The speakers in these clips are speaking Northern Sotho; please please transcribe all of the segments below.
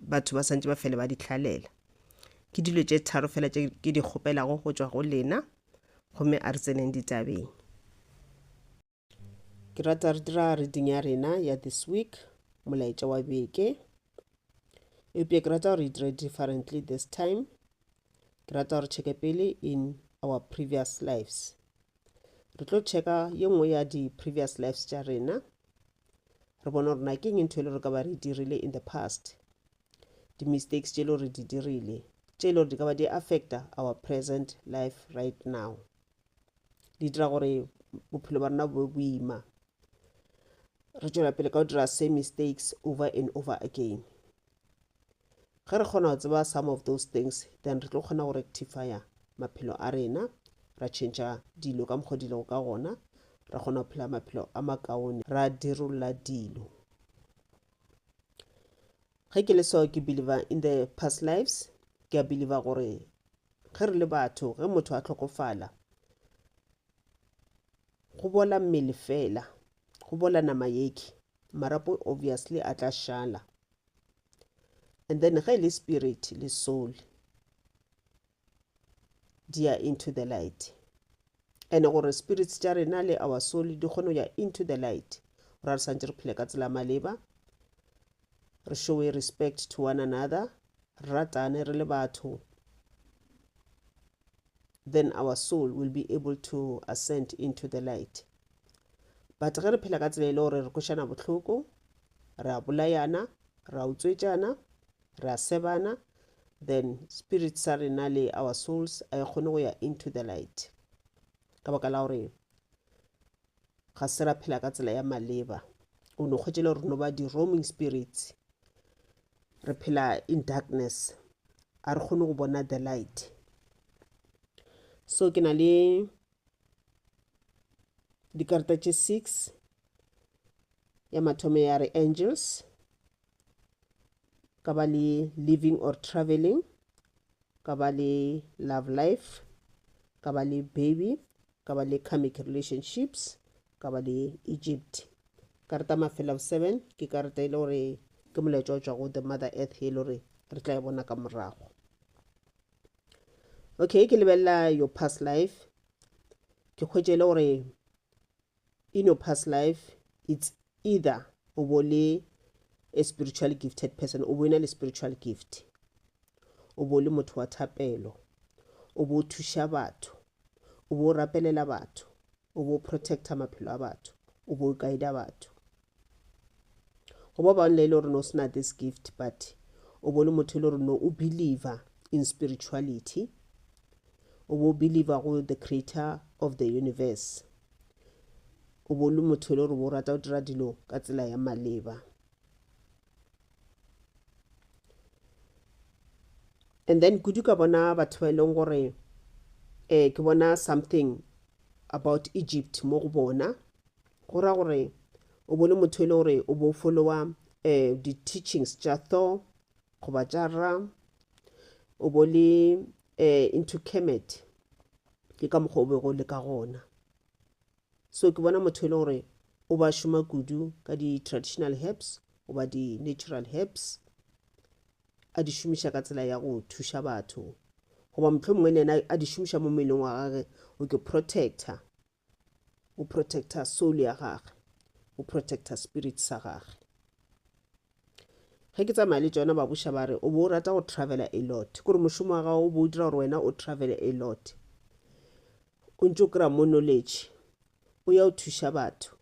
batho ba santse ba fele ba di hlalela ke dilo tše tharo fela tše ke di kgopelago go tšwa go lena gomme a re tseneng ditabeng ke rata re dira reading ya rena ya this week molaetša wa beke eupša ke rata gore e dire differently this time ke rata gore checke pele in our previous lives re tlo checka ye nngwe ya di-previous lives tša rena re bona gore na ke eng ntho e le re ka ba re dirile in the past di-mistakes tše le gore di dirile tše le gore di ka ba di affecta our present life right now di dira gore bophelo ba rena bo boima re tšwela pele ka go dira same mistakes over and over again Ge re kgona go tseba some of those things, then re tlo kgona go rectifya maphelo a rena, ra tšhentšha dilo ka mokgwa di lego ka gona, ra kgona go phela maphelo a makaone, ra dirolola dilo. Ge ke le so ke believer in the past lives, ke a believer gore ge re le batho, ge motho a tlhokofala, go bola mmele fela, go bola nama yeke, marapo obviously a tla šala. and then ge e le spirit le soul di ya into the light and gore spirits tša rena le our soul di kgone go ya into the light gore re santse re phele ka tsela maleba re showe respect to one another re ratane re le batho then our soul will be able to ascend into the light but ge re phela ka tsela e le gore re kwešana bohloko re a bolayana re a utswetšana re a sebana then spirit sa rena le our souls a e kgone go ya into the light ka baka la gore ga se ra phela ka tsela ya maleba o ne kgwetšele gore no ba di-roaming spirits re phela in darkness a re kgone go bona the light so ke na le dikarata tše 6 ya mathomo ya re angels ka ba le living or traveling ka ba le love life ka ba le baby ka ba le karmic relationships ka ba le egypt karata mafela 7 ke karata e le gore ke molaetša o tšwa go the mother earth e le gore re tla e bona ka morago okay ke lebelela your past life ke hwetše le gore in your past life it's either o bo le a spiritual gifted person o bo ena le spiritual gift o bo le motho wa thapelo o bo thuša batho o bo rapelela batho o bo protecta maphelo a batho o bo guida batho go ba bangwe le e le gore no se na this gift but o bo le motho e le gore no o believer in spirituality o bo believer go the creator of the universe o bo le motho e le gore bo rata go dira dilo ka tsela ya maleba and then kudu ka bona batho ba e leng gore um ke bona something about egypt mo go bona go ra gore o bone motho e le gore o bo followa um eh, di-teachings tša thor goba tša ra o bo le um into kemet ke ka mokgwa o bego le ka gona So ke bona motho e le gore o ba šoma kudu ka di traditional herbs goba di natural herbs a di šomiša ka tsela ya go thuša batho goba motlho mongwe le yena a di šomiša mo mmeleng wa gage o ke protector o protector soul ya gage o protector spirit sa gage ge ke tsamaya le tsona babuša ba re o bo o rata go travela a lot kore mošomo wa gago o bo o dira gore wena o travele a lot o ntse o kry-a mo knowledge o ya o thuša batho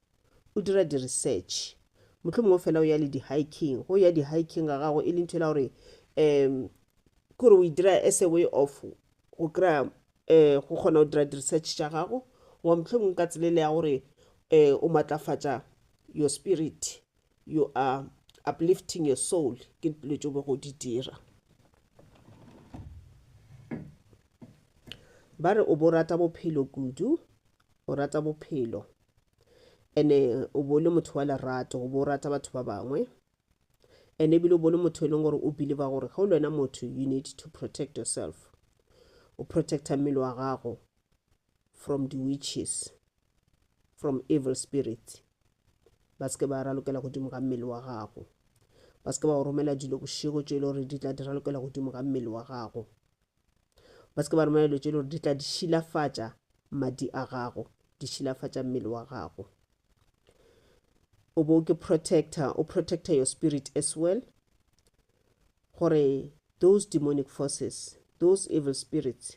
o dira di-research motlho mongwe fela o ya le di-hiking go ya di-hiking ga gago e le ntho e la gore um kore o e dira as a way of go kry-a um eh, go kgona go dira di-research tša gago goba motlho mongwe ka tselele ya gore um o matlafatša your spirit you are uplifting your soul ke dilo tšo bego di dira ba re o bo rata bophelo kudu o rata bophelo ene o bo le motho wa lerato o bo rata batho ba bangwe ene ebile o bo le motho e leng gore o believe gore ga o le wena motho you need to protect yourself o protecta mmele wa gago from di witches from evil spirit ba se ke ba ralokela godimo ga mmele wa gago ba se ke ba go romela dilo bošego tše e le gore di tla di ralokela godimo ga mmele wa gago ba se ke ba romela dilo tše e le gore di tla di šilafatša madi a gago di šilafatša mmele wa gago o bo ke protector o protector your spirit as well gore those demonic forces those evil spirits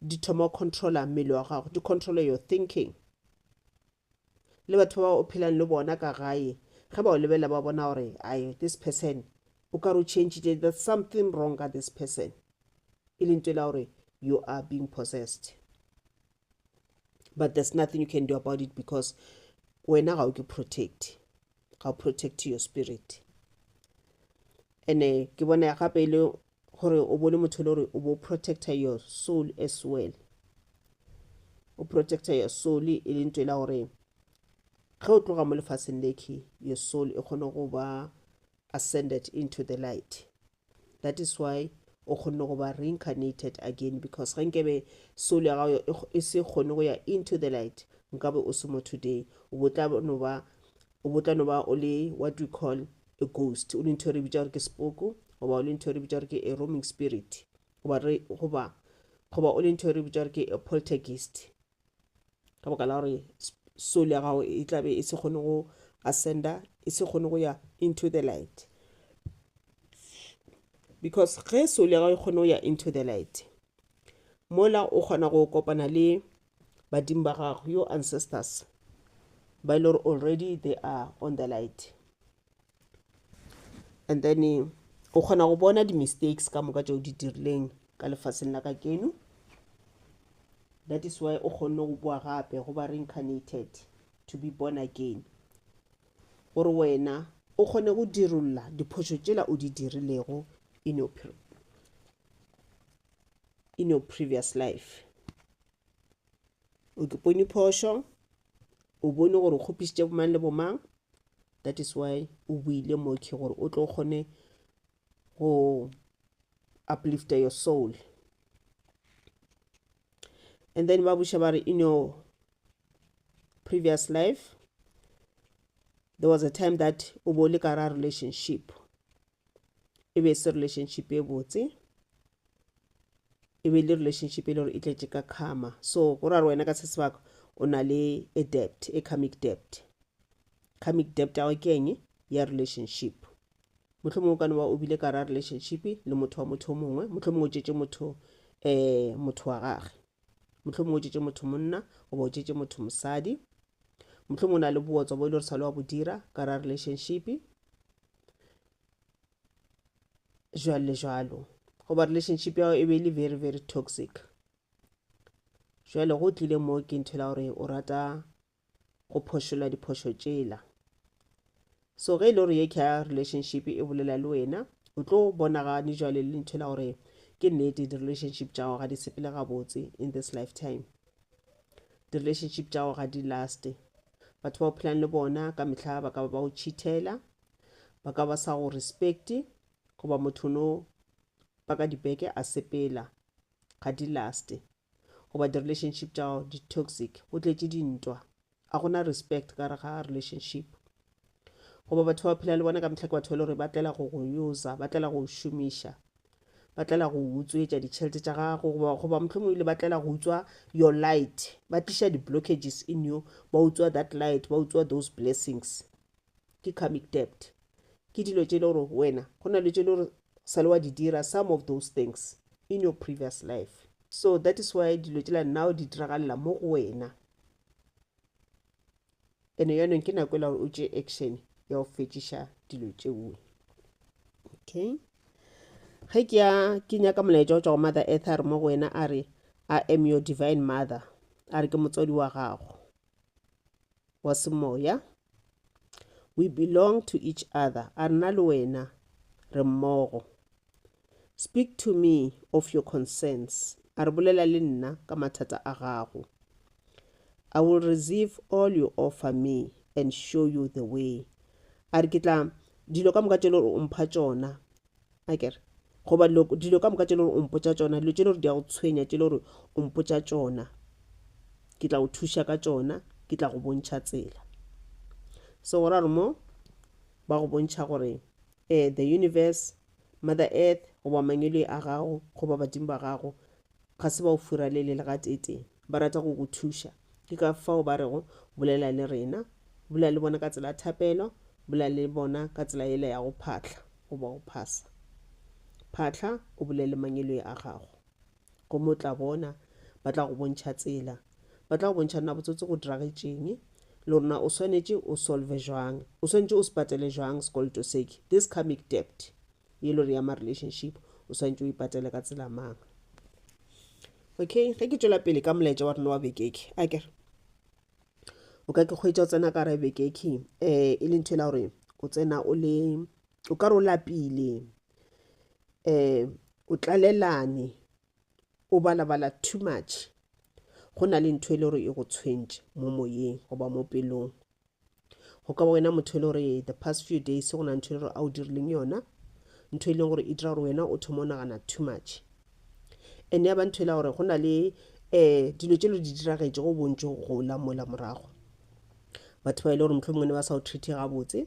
di thoma go controla mmele wa gago di controla your thinking le batho ba o phelang le bona ka gae ge ba o lebelela ba bona gore ai this person o ka re o changile there's something wrong ka this person e leng tela gore you are being possessed but there's nothing you can do about it because wena ga o ke protect ga o protect your spirit and eh, ke bona gape e le gore o bone motho e le gore o bo protector your soul as well o protector your soul e le nto e la gore ge o tloga mo lefaseng leke your soul e kgone go ba ascended into the light that is why o kgonne go ba reincarnated again because ge nkebe soul ya gago e se kgone go ya into the light nkabe o se mo today o botla no ba o botla no ba o le what we call a ghost o le ntho e re bitsa gore ke sepoko goba o le ntho e re bitsa gore ke a roaming spirit goba goba goba o le ntho e re bitsa gore ke a poltergeist ka baka la gore soul ya gago e tlabe e se kgone go ascenda e se kgone go ya into the light because ge soul ya gago e kgone go ya into the light mola o kgona go kopana le badimo ba gago your ancestors ba e le gore already they are on the light and then eh, o kgona go bona di-mistakes ka moka tšeo di dirileng ka lefaseng la ka keno that is why o kgonne go boa gape go ba reincarnated to be born again gore wena o kgone go dirolola diphošo tšela o di dirilego in your, in your previous life o ke pone phošo o bone gore o kgopisitše bomang le bomang that is why o buile moki gore o tlo kgone go uplifta your soul and then ba buša ba re in your previous life there was a time that o bo le ka ra relationship e be e se relationship e botse e be e le relationship e le gore e tletše ka karma so go ra re wena ka se sebaka o na le a debt a karmic debt karmic debt ya gago ke eng ya relationship motlho mongwe o ka no ba o bile ka ra relationship le motho wa motho o mongwe motlho mongwe o tšetše motho um motho wa gage motlho mongwe o tšetše motho monna goba o tšetše motho mosadi motlho mongwe o na le bootswa bo e le gore sa le wa bo dira ka ra relationship jwalo jwalo goba relationship ya e be e le very very toxic jwale go tlile mo ke ntho la gore o rata go phošola diphošo tšela so ge e le gore ye ka relationship e bolela le wena o tlo bonagane jwale le ntho la gore ke nnete di-relationship tša gago ga di sepele gabotse in this lifetime di-relationship tša gago ga di laste Batho ba o phelang le bona ka mehla ba ka ba ba o cheathela, ba ka ba sa go respecte, goba motho no ba ka dibeke a sepela ga di laste goba di-relationship tša gago di-toxic go tletše dintwa a gona respect ka re ga relationship goba batho ba phela le bona ka mehla ke batho ba le gore ba tlela go go usa ba tlela go šomiša ba tlela go utswetša ditšhelete tša gago goba goba mohlomong ile ba tlela go utswa your light ba tliša di-blockages in you ba utswa that light ba utswa those blessings ke comic debt ke dilo tše e le gore wena go na le tše e le gore sa le wa di dira some of those things in your previous life so that is why dilo tšela now di diragalela mo go wena Eno yanong ke nako ela gore o tše action ya go fetšiša dilo tšeo. Okay. Ge ke ya ke nyaka molaetša o tšwa go Mother Earth a re mo go wena a re I am your divine mother a re ke motswadi wa gago wa semoya. We belong to each other a rena le wena re mmogo. Speak to me of your concerns, a re, Bolela le nna ka mathata a gago. I will receive all you offer me and show you the way, a re, Ke tla dilo ka moka tše le gore o mpha tšona, a ke re, goba dilo, dilo ka moka tše le gore o mpotša tšona, dilo tše le gore di a go tshwenya tše le gore o mpotša tšona, ke tla go thuša ka tšona, ke tla go bontšha tsela. So go ra gore mo ba go bontšha gore eh, the universe Mother Earth goba mangweloi a gago goba badimo ba gago ga se ba o furalele le gateetee. Ba rata go go thuša. Ke ka fao ba rego, Bolela le rena. Bolela le bona ka tsela ya thapelo. Bolela le bona ka tsela yela ya go phahla goba go phasa. Phahla o bolele mangweloi a gago. Gomme o tla bona, ba tla go bontšha tsela. Ba tla go bontšha nna botsotsi go diragetšeng, le gore na o swanetše o solve jwang, o swanetše o se patele jwang sekoloto seke, this karmic debt, ye lore ya ma relationship, o swanetše o e patele ka tsela mang. Okay, ge ke tšwela pele ka molaetša wa rena wa bekeke, akere o ka ke kgwetša o tsena ka gare bekeke, um e le ntho e la gore o tsena o le o ka re o lapile um o tlalelane o balabala too much go na le ntho e le gore e go tshwentše mo moyeng goba mo pelong go ka ba wena motho e le gore the past few days go na ntho e le gore a o dirileng yona ntho e leng gore e dira gore wena o thoma o nagana too much and ya ba ntho e la gore go na le um dilo tse lo di diragetše go bontšo gola mola morago batho ba e le gore motlho mongwe ne ba sa o treate gabotse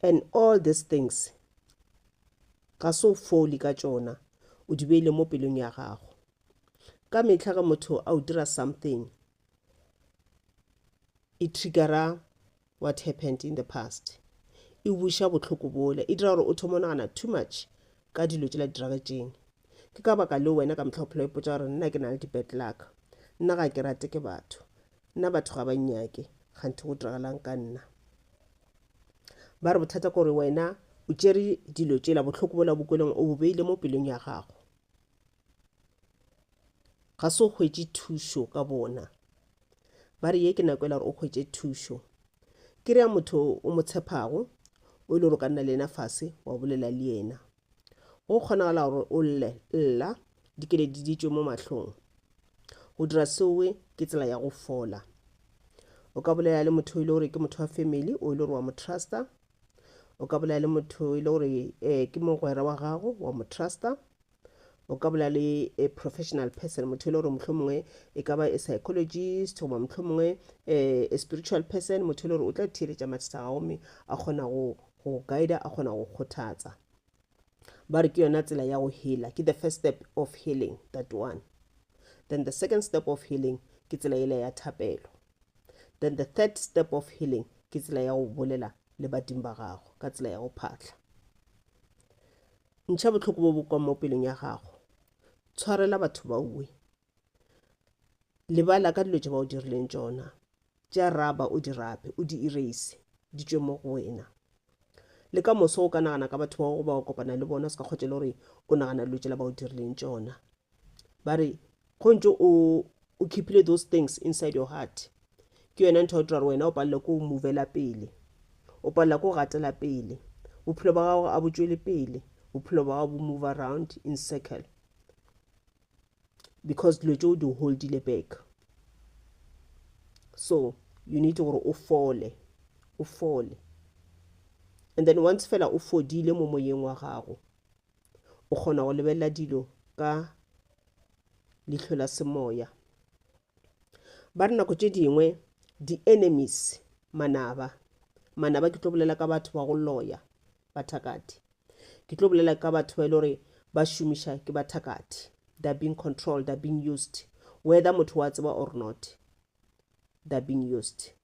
And all these things, ga se o foli ka tšona, o di beile mo pelong ya gago. Ka mehla ge motho a o dira something, e triggera what happened in the past. E buša bohloko bola, e dira gore o thoma o nagana too much ka dilo tšela di diragetšeng. Ke ka baka leo wena ka mehla o phela o ipotsa gore nna ke na le di-bad luck, nna ga ke rate ke batho, Nna batho ga ba nnyake, kganthe go diragalang ka nna? Ba re bothata kore wena o tšere dilo tšela bohloko bola bokweleng o bo beile mo pelong ya gago. Ga se o hwetše thušo ka bona. Ba re ye ke nako e la gore o hwetše thušo. Ke re ya motho o mo tshepago, o e le gore o ka nna le yena fase wa bolela le yena. Go kgonagala gore o lle, lla, dikeledi di tšwe mo mahlong. Go dira seoe ke tsela ya go fola. O ka bolela le motho e le gore ke motho wa family o e le gore wa mo trusta. O ka bolela le motho e le gore um ke mogwera wa gago wa mo trusta. O ka bolela le a professional person motho e le gore mohlho mongwe e ka ba a psychologist goba mohlho mongwe um a spiritual person motho e le gore o tla theeletša mathata a gago mme a kgona go Go guider a kgona go kgothatsa. Ba re ke yona tsela ya go healer, ke the first step of healing that one. Then the second step of healing ke tsela yela ya thapelo. Then the third step of healing ke tsela ya go bolela le badimo ba gago ka tsela ya go phatla. Ntšha bohloko bo bo kwa mo pelong ya gago. Tshwarela batho ba uwe. lebala ka dilo tše ba o dirileng tšona tša raba o di rape o di erase di tšwe mo go wena le ka moso o ka nagana ka batho bao ba o kopana le bona o se ka kgotšele gore o nagana dilo tšela ba o dirileng tšona ba re go ntse o o keepile those things inside your heart ke yona ntho ya dira gore wena o palelwe ke go movela pele o palelwa ke go gatela pele bophelo ba gago a bo tšwele pele bophelo ba gago bo move around in circle because dilo tšeo di holdile back so you need gore o fole o fole and then once fela o fodile mo moyeng wa gago o kgona go lebelela dilo ka lihlo la semoya Ba re nako tše dingwe di-enemies, manaba, manaba ke tlo bolela ka batho ba go loya, bathakati. Ke tlo bolela ka batho ba e le gore ba šomiša ke bathakati. They're being controlled, they're being used. Whether motho wa tseba or not, they're being used.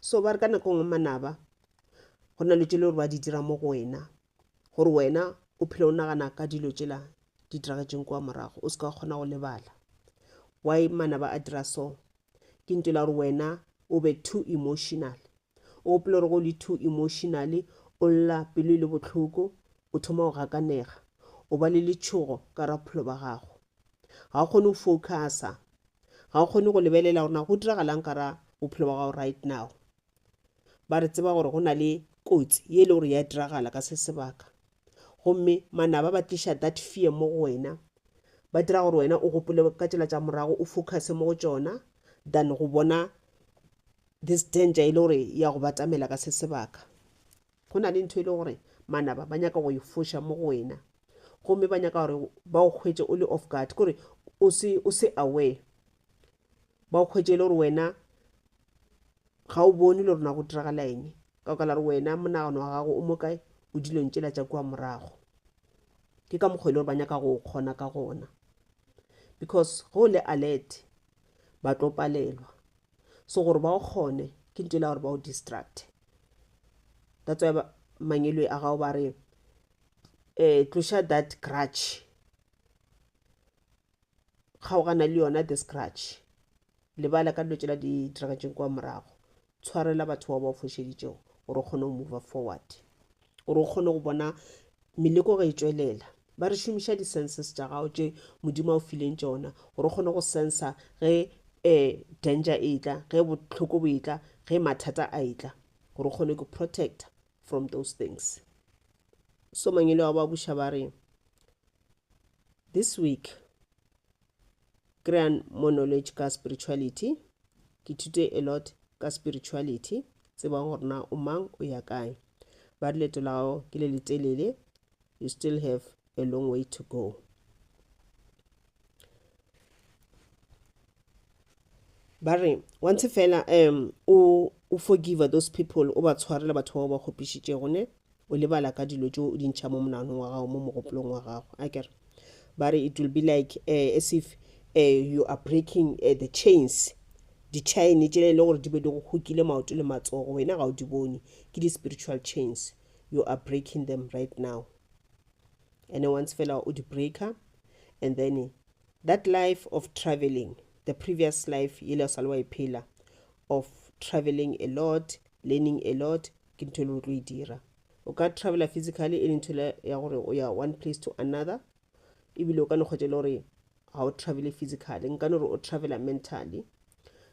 so ba re ka nako ngwe manaba go na le tšele gore ba di dira mo go wena gore wena o phele o nagana ka dilo tšela di diragetseng kwa morago o se ka kgona go lebala why manaba a dira so ke nto la gore wena o be too emotional o gopele gore go le too emotional o lla pelo e le botlhoko o thoma go gakanega o ba le letshogo ka rapholo ba gago ga o kgone go focusa ga o kgone go lebelela gore na go diragalang ka ra bophelo ba gago right now ba re tseba gore go na le kotsi ye e le gore ya diragala ka se sebaka gomme manaba ba tliša that fear mo go wena ba dira gore wena o gopole ka tsela tša morago o focuse mo go tšona than go bona this danger e le gore ya go batamela ka se sebaka Go na le ntho e le gore manaba ba nyaka go e foša mo go wena, gomme ba nyaka gore ba go hwetše o le off guard, ke gore o se, o se aware, ba go hwetše e le gore wena ga o bone le gore na go diragala eng, ka baka la gore wena monagano wa gago o mo kae, o dilong tšela tša kua morago. Ke ka mokgwa e le gore ba nyaka go o kgona ka gona, because ge o le alert ba tlo palelwa. so gore ba o kgone ke nto e la gore ba o distract that's why mangelo a gago ba re um tloša that grudge kgaogana le yona this grudge lebala ka dilo tsela di diragetseng kwa morago tshwarela batho bao ba o fošeditšego gore o kgone go move forward gore o kgone go bona meleko ge e tšwelela ba re šomiša di-senses tša gago tše modimo a o fileng tšona gore o kgone go sensa ge um danger e tla ge bohloko bo e tla ge mathata a e tla gore o kgone go protecta from those things so mangele wa ba buša ba re this week kry-ang more knowledge ka spirituality ke thute a lot ka spirituality tsebang gore na o mang o ya kae ba re leto la gago ke le letelele you still have a long way to go ba re wa ntshe fela um o o forgive those people o ba tshwarela batho bao ba kgopišitšego ne o lebala ka dilo tšeo o di ntšha mo monaganong wa gago mo mogopolong wa gago a kere ba re it will be like uh, as if uh, you are breaking uh, the chains ditšhaene tšele e le gore di be di go hokile maoto le matsogo wena ga o di bone ke di-spiritual chains you are breaking them right now and once fela o di-breaker and then That life of travelling, the previous life yele o sa le wa e phela, of travelling a lot, learning a lot, ke ntho ele o tlo e dira. O ka travela physically ele ntho ya gore o ya one place to another, ebile o ka no kgwetša ele gore ga o travele physically, nka no re o travela mentally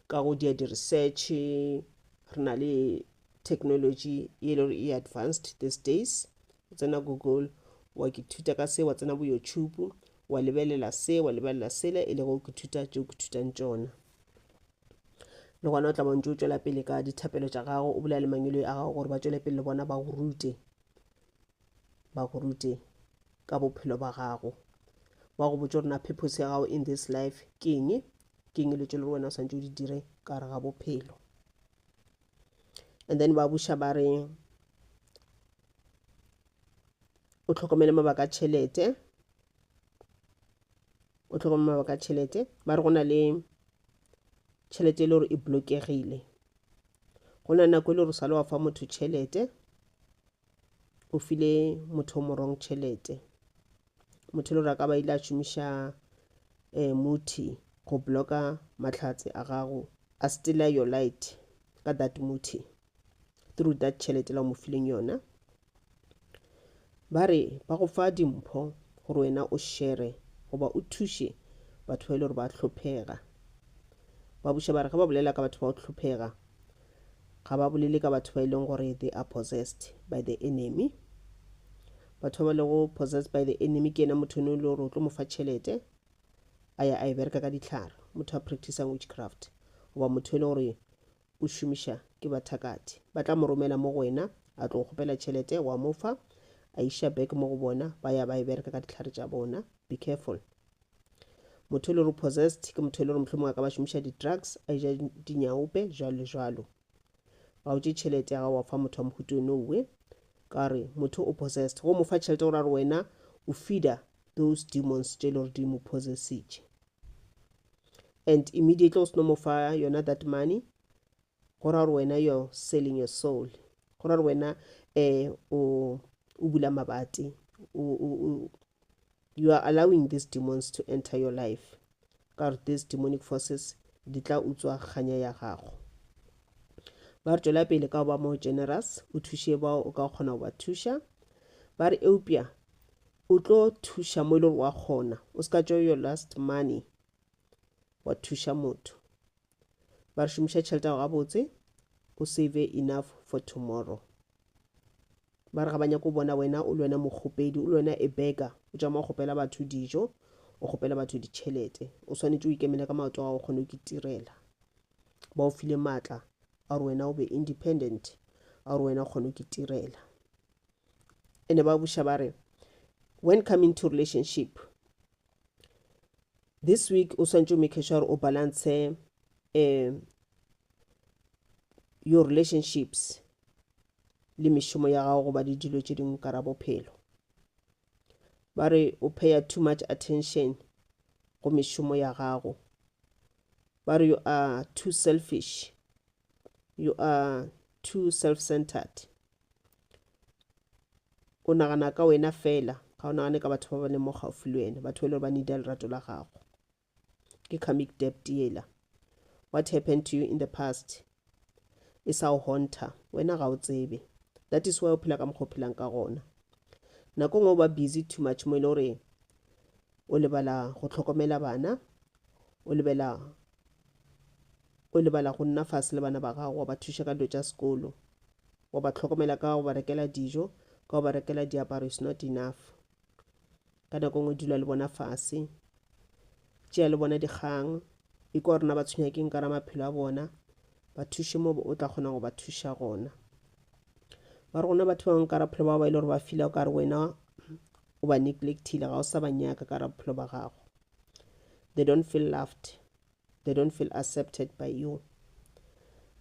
ka go dia di-research, re na le technology e le gore e advanced these days, o tsena Google wa ithuta ka se, wa tsena bo YouTube wa lebelela se wa lebelela sele e lego ke thuta tšeo ke thutang tšona le gona o tla bontse o tšwela pele ka dithapelo tša gago o bolela le mangweloi a gago gore ba tšwele pele le bona ba go rute ba go rute ka bophelo ba gago ba go botse rena purpose ya gago in this life ke eng ke eng le tšo le wena o swantse o di dire ka gare ga bophelo and then ba buša ba re o tlhokomele mabaka a tšhelete o tlhokomele mabaka a tšhelete ba re go na le tšhelete e le gore e blokegile go na nako e le gore sale wa fa motho tšhelete o file motho o morong tšhelete motho le gore a ka ba ile a šomiša um muthi go blocka mahlatse a gago a stela your light ka that muthi through that tšhelete la o mo fileng yona ba re ba go fa dimpho gore wena o shere goba o thuše batho ba e le gore ba hlophega ba buša ba re ge ba bolela ka batho ba go hlophega ga ba bolele ka batho ba e leng gore they are possessed by the enemy batho ba ba lego possessed by the enemy ke ena motho ne o le gore o tlo mo fa tšhelete a ya a e bereka ka ditlhare motho a practicang witchcraft goba motho e le gore o šomiša ke bathakati ba tla mo romela mo go wena a tlo kgopela tšhelete wa mo fa a iša back mo go bona ba ya ba e bereka ka ditlhare tša bona be careful motho e le gore possessed ke motho e le gore mohlomong a ka ba šomiša di-drugs a eja dinyaope jalo le jalo ga o tše tšhelete ya gago wa fa motho wa mohuto nowe ka re motho o possessed go mo fa tšhelete gore a re wena o feeder those demons tše e le gore di mo possessitše and immediately o seno mo fa yona that money go ra gore wena you're selling your soul go ra gore wena um o o bula mabati you are allowing these demons to enter your life ka gore these demonic forces di tla utswa kganya ya gago ba re tšwela pele ka go ba more generous o thuše bao o ka kgona go ba thuša ba re eupša o tlo thuša mo e le gore wa kgona o se ka tšeo your last money wa thuša motho ba re šomiša tšhelete yago gabotse o save enough for tomorrow ba re ga ba nyako o bona wena o le wena mokgopedi o le wena e beka o tšama o kgopela batho dijo o kgopela batho ditšhelete o swanetše o ikemele ka maoto gago kgone o ke tirela ba o file maatla a gore wena o be independent a gore wena o kgone o ke tirela ene ba buša ba re when coming to relationship this week o swantse o make sure gore o balance um your relationships le mešomo ya gago goba le dilo tše dingwe ka ra bophelo ba re o paya too much attention go mešomo ya gago ba re you are too selfish you are too self centered o nagana ka wena fela ga o nagane ka batho ba ba leng mo gaufi le wena batho ba e le gore ba needa lerato la gago ke comic debt yela what happened to you in the past e sa o honta wena ga o tsebe that is why o phela ka mokgwa o phelang ka gona nako ngwe o ba busy too much mo e le gore o lebala go tlhokomela bana o lebela O lebala go nna fase le bana ba gago, wa ba thuša ka dilo tša sekolo, wa ba tlhokomela ka go ba rekela dijo, ka go ba rekela diaparo is not enough. Ka nako nngwe dula le bona fase, tšea le bona dikgang, ikwa gore na ba tshwenya ke nka ra maphelo a bona, ba thuše mo o tla kgona go ba thuša gona. Ba re gona batho ba bangwe ka ra phelo ba ba ile gore ba fila o ka re wena o ba neglectile ga o sa ba nyaka ka ra bophelo ba gago they don't feel loved they don't feel accepted by you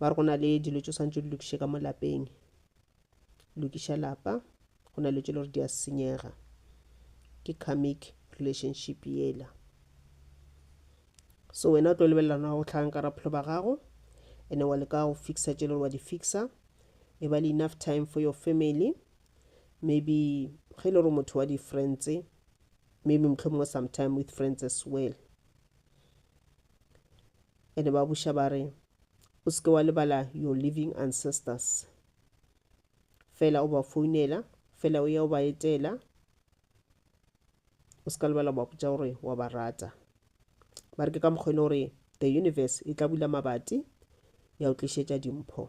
ba re go na le dilo tso swantse di lokiše ka mo lapeng lokiša lapa go na le tso le gore di a senyega ke karmic relationship yela so wena o tlo lebelelana go tlhagang ka raphelo ba gago ene wa leka go fixa tše le gore wa di fixa e ba le enough time for your family maybe ge e le gore motho wa di-friends maybe mohlomongwe sometime with friends as well ene ba buša ba re o seke wa lebala your living ancestors fela o ba founela fela o ya o ba etela o seka lebala ba botša gore wa ba rata ba re ke ka mokgwa e le gore the universe e tla bula mabati ya o tlišetša dimpho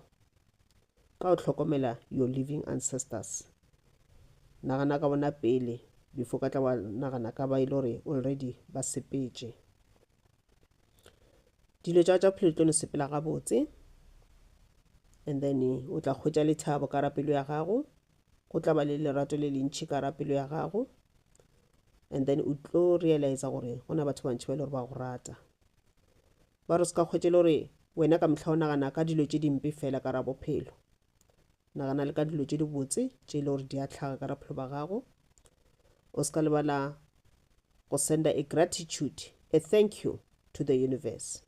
ka o hlokomela your living ancestors nagana ka bona pele before ka tla wa nagana ka ba e le gore already ba sepetše dilo tša tša phelo tlo no sepela gabotse and then o tla kgwetša lethabo ka rapelo ya gago go tla ba le lerato le lentšhi ka ra pelo ya gago and then o tlo realize gore go na batho bantšhi ba le gore ba go rata ba re se ka kgwetše le gore wena ka mohla o nagana ka dilo tše dimpe fela ka ra bophelo nagana le ka dilo tše dibotse tše e le gore di a tlhaga ka ra bophelo ba gago o se ka lebala go senda a gratitude a thank you to the universe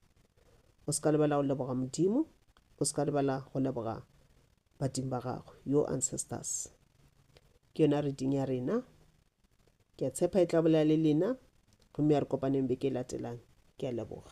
o se ka lebala go leboga modimo o se ka lebala go leboga badimo ba gagwe your ancestors ke yona reading ya rena ke a tshepa e tla bolela le lena gomme ya re kopaneng beke e latelang ke a leboga